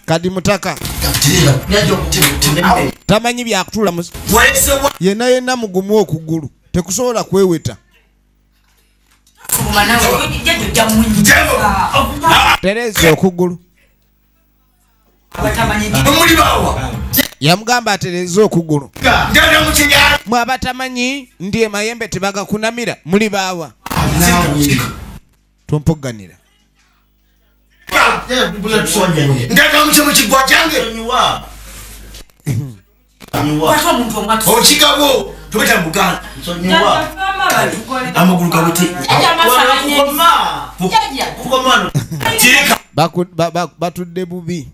kadi mutaka tamanyi byakutula yena yena mugumu okugulu tekusobola kweweta tereza okugulu yamugamba atereze okugulu mwe abatamanyi ndi emayembe tebagakunamira muli baawa tumpogganira okigabo tobeta muganda amagulu gabuti batudde bubi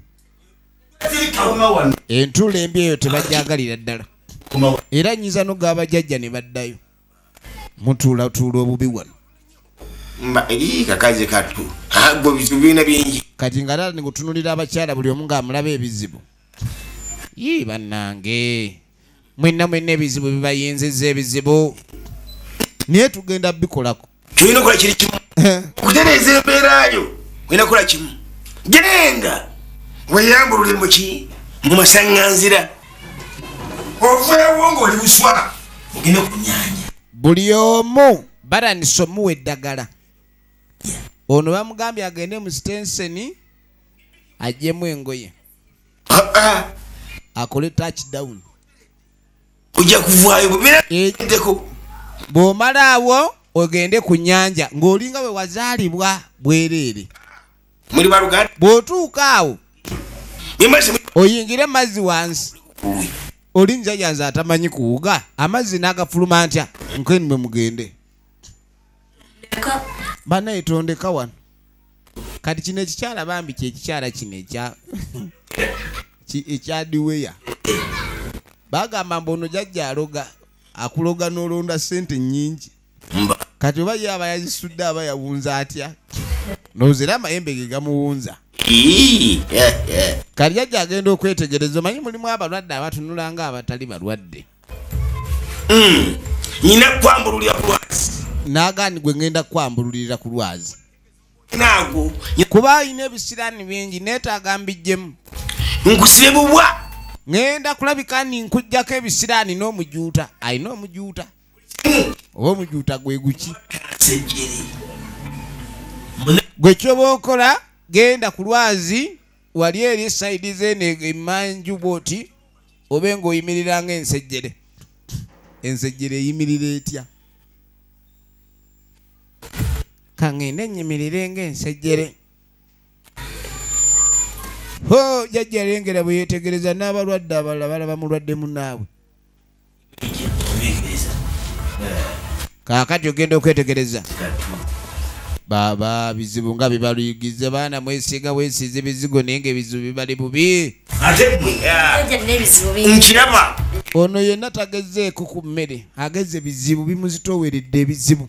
entula embi eyo tebagyagalira ddala era nyinza nogaba jajja ne baddayo mutuulatuula obubi wano kakazi katu ago bizibu birina bingi kati nga tata nikutunulira abakyala buli omu ngaamulaba ebizibu yii bannange mwenna mwenna ebizibu bibayinziza ebizibu naye tugenda bikolako kyolina okola kiri kimu eh. okutereeza embeera yo olina kukola kimu genda weyambulule muki mu masaŋŋanzira oveewo ng'oli buswa ogende ku nyanja buli omu baranisa omuwa eddagala ono bamugambye agende mu sitenseni ajjemu engoye ah, ah. akole touchdown ojja kuvaayo bwebiraeko eh, bw'omalaawo ogende ku nyanja ng'olinga we wazaalibwa bwereere muli baluganda bw'otuuka awo oyingire mazzi wansi oli njaja nze atamanyi kuwuga amazzi n'agafuluma ntya nkeni mwe mugende banaye tondeka wano kati kino ekikyala bambi kyekikyala kino ekya ekyadiweya bagamba mbu ono jajja aloga akuloga nolonda sente nyingi kati oba ye aba yazisudde aba yawunza atya nozera amayembe ge gamuwunza kati jajja agenda okwetegereza omanyi mulimu abalwadde abatunula nga abatali balwadde hmm. nyina kwambululira ku lwazi nagani gwe ngenda kwambululirira ku lwazi naago kuba alina ebisiraani bingi neetaaga mbijjemu nkusibe bubwa ŋenda kulabika ni nkujjako ebisiraani n'omujuuta alina omujuuta oba omujuuta gwe guki gwe kyoba okola genda ku lwazi wali eri esaidi zeeno emanju bwoti obe ng'oyimirira nga ensejjere ensejjere eyimirira etya kaŋŋende nnyimirire ng'ensejjere ho jajja alengera bwe yeetegereza n'abalwadde abalala balaba mulwadde munaabwe kaakati ogenda okwetegereza baaba bizibu nga bibaluyigize baana mwesiiga wesiiza ebizigo naye nga ebizibu bibali bubi nkiraba ono yenna tagezeeko ku mmere ageze bizibu bimuzitooweredde ebizibu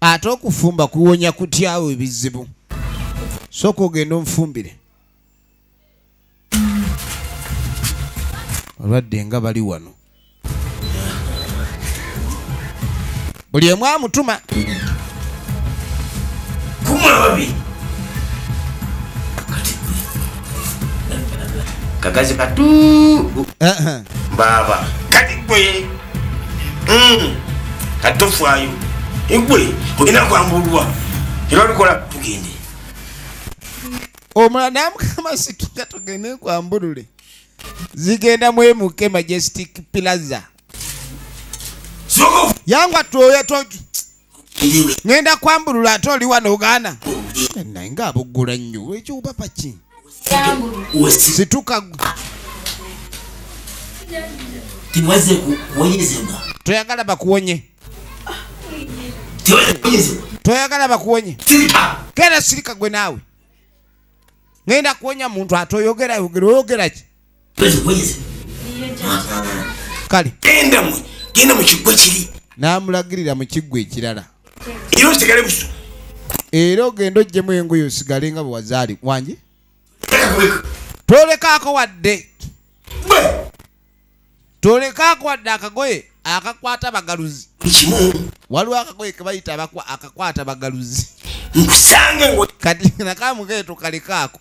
ate okufumba kuwonya kutyawo ebizibu sooka ogenda omufumbire olwadde nga bali wano buli emu amutuma kagazi katu baaba kati gwe hmm. kati tofaayo egwe olina kwambulwa era olikola tugende omulala namukama situka tugende kwambulule zigenda mwemuke majestic plaza yangu atwoya ngenda kwambulula ate oli wano ogaana naye nga abuggula nnyo ekyobaba ki situka toyagala bakuwonye toyagala bakuwonye kera sirika gwe naawe ngenda kuwonya muntu atoyogera yogera oyogera ki kale genda mwe genda mu kiggwa kiri n'amulagirira mu kiggwa ekirala era osigale buso era ogenda ojjemu engoyo osigale nga bwe wazaali wangi tolekaako wadde tolekaako wadde akagoye akakwata bagaluzi waliwo akagoye kebayita akakwata bagaluzi kati nakamugeeto kalekaako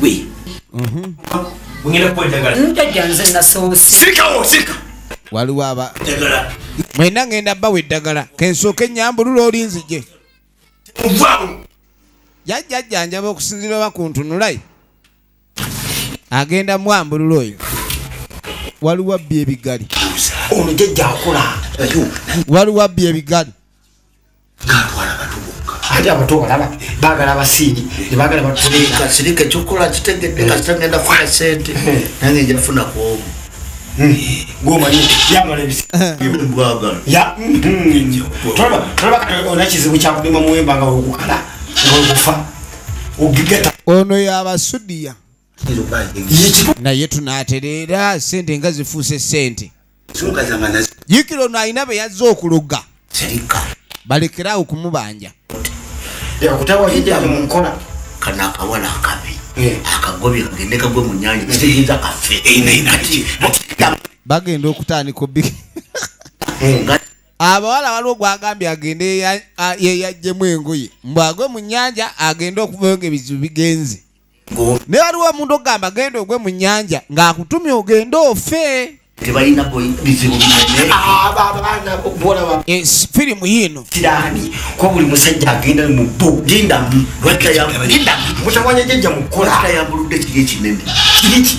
gwe ngenda kuwa eddagala njajja nze nasoose sirikawo sirika waliwo aba eddagala mwena ngenda bawa eddagala kensooka ennyambulula oli nzije muvaawo jajjajjanjaba okusinzira oba ku ntunulayi agenda mwambulula oyo waliwo abbi ebigali ono jajja akola waliwo abbi ebigali ate abato balaba bagala abasiini nebagala batkasirika ekyokukola kitegedde kasita ngenda funa sente nange nja funa kwomu ono yabasudiya naye tunatereera sente nga zifuuse sente yikira ono alina be yazze okuloga balekeraawo okumubanja bagenda okutandika obi abawala waliwo gwagambye agende yeyajjemu engoye mbwagwe mu nyanja agende okuvayo nga ebizibu bigenze naye waliwo omuntu okugamba genda ogwe mu nyanja ng'akutumye ogende ofe tebalina bizibu binenefirimu ah, yiino kirani kuba buli musajja agenda mu bo lindamu lwakira yamutawanya jajja mukola yambuludde kiri ekinene kiriki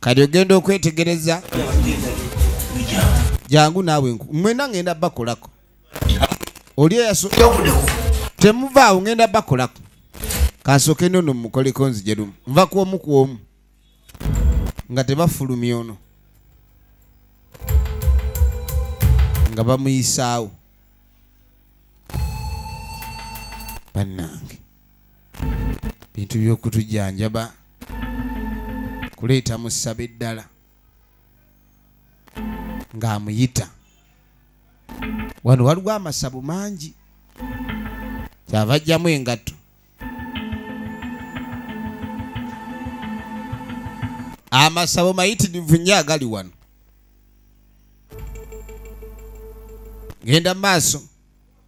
kati ogenda okwetegereza jangu naawe mwena ngenda bakolako oli temuvaawo ngenda bakolako kansooke nono mukoleko nzijerumu nva kwomu kwomu nga tebafulumya ono nga bamuyisaawo bannange bintu by'okutujjanjaba kuleeta musaba eddala ng'amuyita wano waliwo amasabo mangi kyava ajjamu engatto amasabo mayitirivu nnyo agali wano genda mu maaso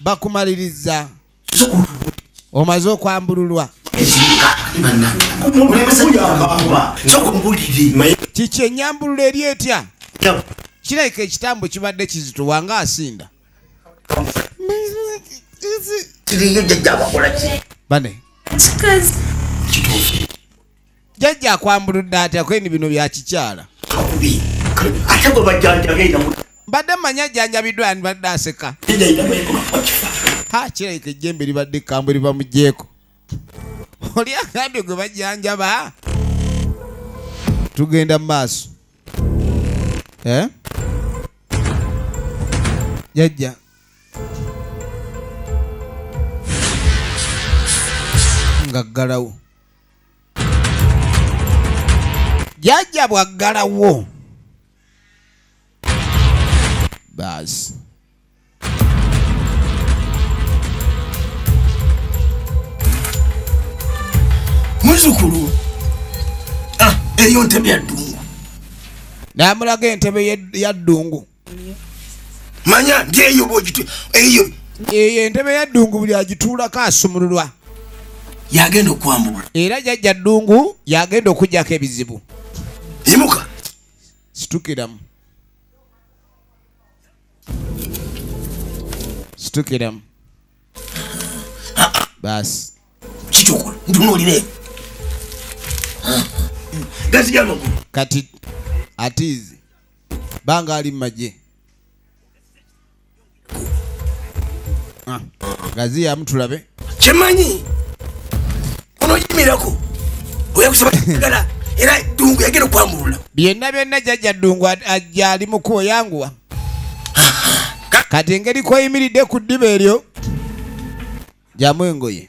bakumaliriza omaze okwambululwa kiki enyambulula eri etya kirabika ekitambo kibadde kizituwa nga asinda bane jajja akwambuludde atya kweni bino byakikyala ate gwe bajjanjabeera mbadde manya ajjanjabiddwa ani badde aseka ha kirabika ejjembe libadde ekambwe libamugyeko oli agambye gwe bajjanjaba tugenda mu maaso eh? jajja ngaggalawo jajja bwaggalawo baasi muzukulu ah, eyo ntebe yaddungu namulaga entebe yaddungu ya manya ndi eyo bwogitu eyo eyo entebe ya ddungu buli agituulako asumululwa yagenda okwambulwa era jajja ddungu yagenda okujjako ebizibu yimuka situkiramu situkiramu baasi kikyokola ntunuulire kati atiizi banga ali mumagye ah, gaziyamu tulabe kyemanyi onoyimirako oyakusabagala era dungu yagenda okwamulula byonna byonna jajja dungu ajja ali mukubo yanguwa kati engeri koyimiridde ku ddiba eryo jamu engoye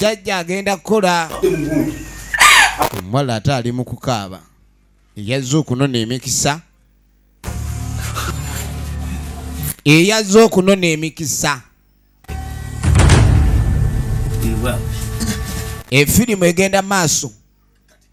jajja agenda kukola omuwala ate ali mu kukaaba eyazze okunona emikisa eyazze okunona emikisa efirimu egenda maaso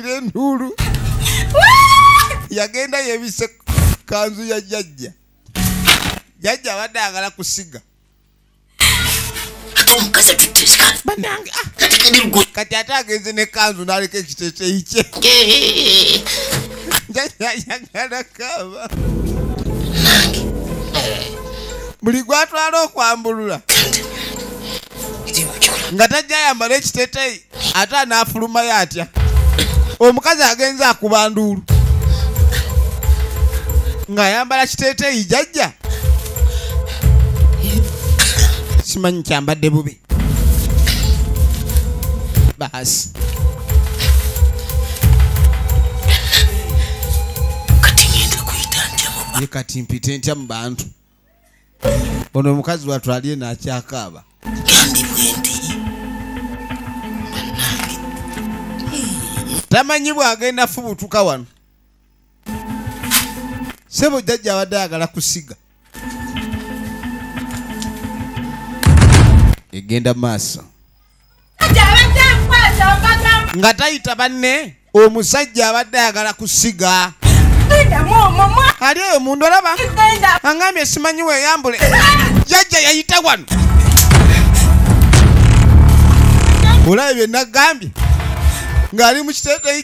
bw'awulira enduulu yagenda yebise kanzu ya jajja jajja abadde agala kusiga ah. kati ate agenze ne kanzu naleka ekiteteyi kye jajayagala kaba buli gwatwala okwambulula nga tajja ayambala ekiteteyi ate anaafulumayo atya omukazi agenze akuba nduulu ng'ayambala kiteeteeyi jajja simanyi kyambadde bubi baasi kati mpite ntya mu bantu ono omukazi watu ali eno akyakaaba tamanyi bwagenda fubutuka wano sebo jajja abadde ayagala kusiga egenda maaso nga tayita banne omusajja abadde ayagala kusiga ali eyo mundu olaba angambye simanyi weyambule jajja yayita wano olaba byenagambye ng'ali mu kiteteyi